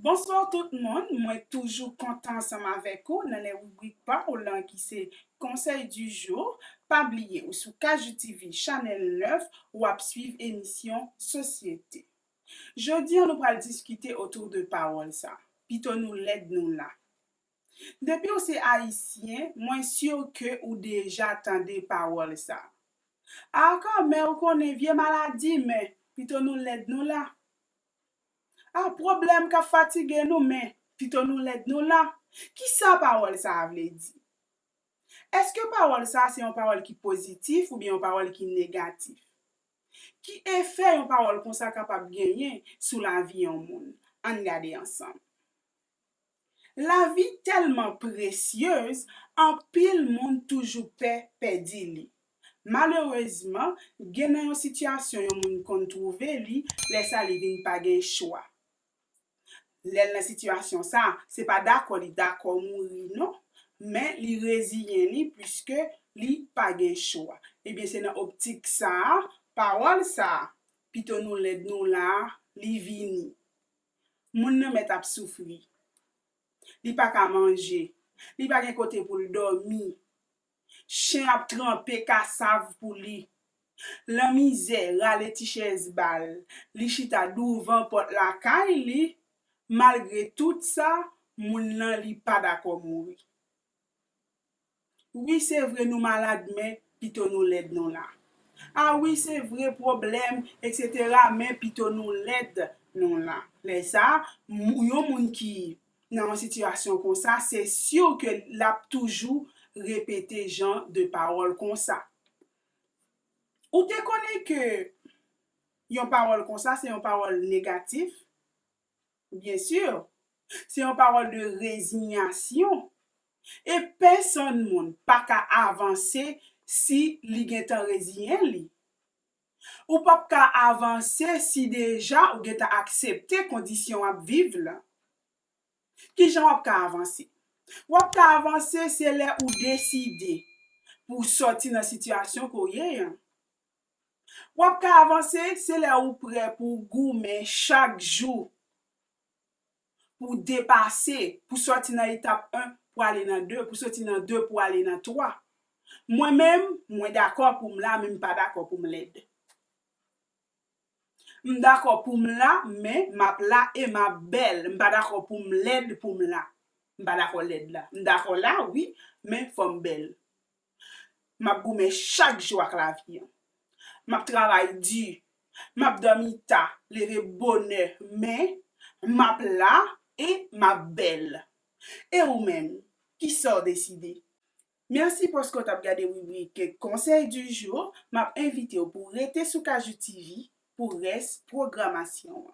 Bonsoir tout moun, mwen toujou kontan ansanm avèk ou nan lè ribrik pa w lan ki se Conseil du jour, pa bliye ou sou KJTV Channel 9 ou ap swiv emisyon Sosyete. Jodi an nou pral diskite autour de pawòl sa, pito nou lèd nou la. Depiw se ayisyen mwen sur ke ou deja tande pawòl sa. Ahh Carmè ou konnen vye maladi men pito nou lèd nou la Ahh pwoblèm kap fatige nou men pito nou lèd nou la Kisa pawòl sa a vle di? Eske pawòl sa a se yon pawòl ki pozitif oubyen yon pawòl ki negatif? Ki efè yon pawòl konsa kapab genyen sou lavi yon moun? Ann gade ansanm. Lavi tèlman presyez, anpil moun toujou pè pèdi li. Malerezman, gen nan yon sitiyasyon yon moun konn twouve li, lè sa li vin pa gen chwa. Lè l nan sitiyasyon sa, se pa dakò li dakò mouri non, men li reziyen li piske li pa gen chwa. Ebyen se nan optik sa a, pawòl sa a, Pito nou lèd nou la a, li vini. Moun nan mèt ap soufri. Li pa ka manje. Li pa gen kote pou l dòmi. Chen ap tranpe kasav pou li. Lanmizè rale ti chèz ba l, li chita douvan pòt lakay li, malgre tout sa, moun lan li pa dakò mouri. Wi se vre nou malad men pito nou lèd non la a wi se vre pwoblèm etc men pito nou lèd non la lè sa yon moun ki nan yon sitiyasyon konsa se sur ke lap toujou repete jan de pawòl konsa ou te konnen ke yon pawòl konsa se yon pawòl negatif Bien sûr! Se yon pawòl de rezinyasyon e pèsonn moun pa ka avanse si li gentan reziyen li. Ou pap ka avanse si deja ou gentan aksepte kondisyon w ap viv lan. Kijan w ap ka avanse? W ap ka avanse se lè ou deside pou w sòti nan sitiyasyon ke w ye an. Wap ka avanse se lè ou prè pou w goumen chak jou pou w depase, pou sòti nan etap 1 pou ale nan 2, pou soti nan 2 pou ale nan 3. Mwen menm, mwen dakò pou m la men m pa dakò pou m lèd. M dakò pou m la men m ap la e m ap bèl. M pa dakò pou m lèd pou m la. M pa dakò lèd la. M dakò la wi men fò m bèl. M ap goumen chak jou ak lavi an. M ap travay di, m ap dòmi ta, leve bonè, men, m ap la e m ap bèl. E ou menm, ki sa w deside? Mèsi paske w t ap gade ribrik Conseil du jour, m ap envite w pou w rete sou Kajou TV pou rès pwogramasyon an.